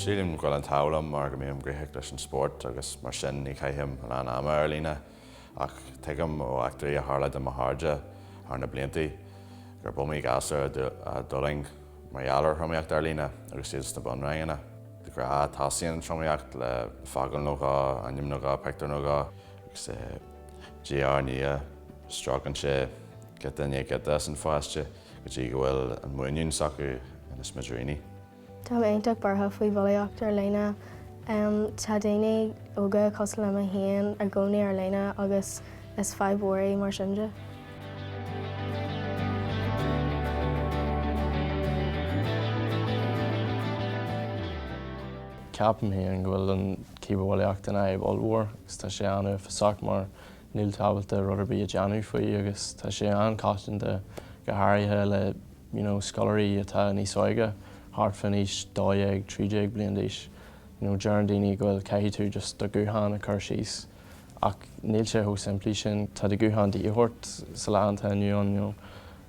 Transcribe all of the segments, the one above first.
Sílim go bhfuil an t-ádh liom mar go mbím gníomhach leis an spórt agus mar sin ní chaithim a lán ama ar líne ach tuigim ó eachtraí a tharla do mo chairde thar na blianta gurb iomaí gasúr a d'fhulaing mar gheall ar thromaíocht ar líne agus iad sna bunranganna. De ghnáth tosaíonn an tromaíocht, le focal nó dhó ainm nó dhó, pictiúr nó dhó. Agus diaidh ar ndiaidh, stróiceann sé giota i ndiaidh giota as an phaiste go dtí go bhfuil an mhuinín s'acu ina smidiríní. Táim iontach buartha faoi bhulaíocht ar líne. Tá daoine óga cosúil liom féin i gcónaí ar líne agus Is fadhb mhór í, mar sin de. Ceapaim féin go bhfuil an chibearbhulaíocht ina fhadhb ollmhór agus tá sé an-uafásach mar níl tú ábalta rud ar bith a dhéanamh faoi agus tá sé an-choitianta go háirithe le you know scoláirí atá níos óige, thart fán aois dó dhéag, trí déag bliain d'aois. You know, deireann daoine go bhfuil caithfidh tú just do ghuthán a chur síos. ach níl sé chomh simplí sin. Tá do ghuthán de dhíth ort sa lá atá inniu ann, you know.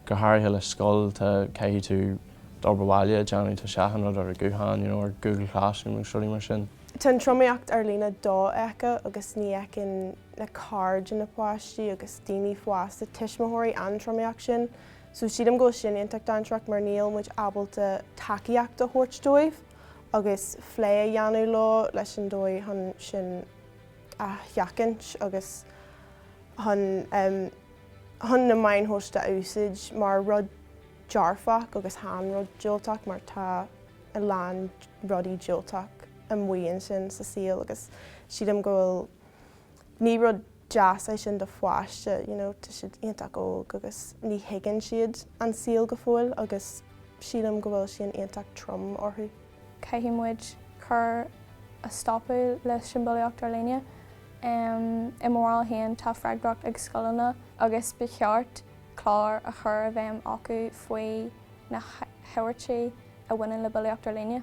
Go háirithe le scoil, tá, caithfidh tú d'obair bhaile a dhéanamh, tá achan rud ar an nguthán, you know, ar Google Classroom agus rudaí mar sin. Tá an tromaíocht ar líne dofheicthe agus ní fheiceann na cairde, na páistí agus daoine fásta, tuismitheoirí, an tromaíocht sin. So sílim go bhfuil sin iontach dainséarach mar níl muid ábalta tacaíocht a thabhairt dóibh agus plé a dhéanamh leo leis an dóigh chun sin, a sheachaint agus chun chun na meáin shóisialta a úsáid mar rud dearfach agus chan rud diúltach mar tá a lán rudaí diúltach amuigh ansin sa saol agus sílim go bhfuil ní rud deas é sin do pháiste, you know tá siad iontach óg agus ní thuigeann siad an saol go fóill agus sílim go bhfuil sin iontach trom orthu. caithfidh muid cur a stopadh leis an bhulaíocht ar líne. I mo bharúil féin, tá freagracht ag scoileanna agus ba cheart clár a chur i bhfeidhm acu faoi na habairtí a bhaineann le bulaíocht ar líne.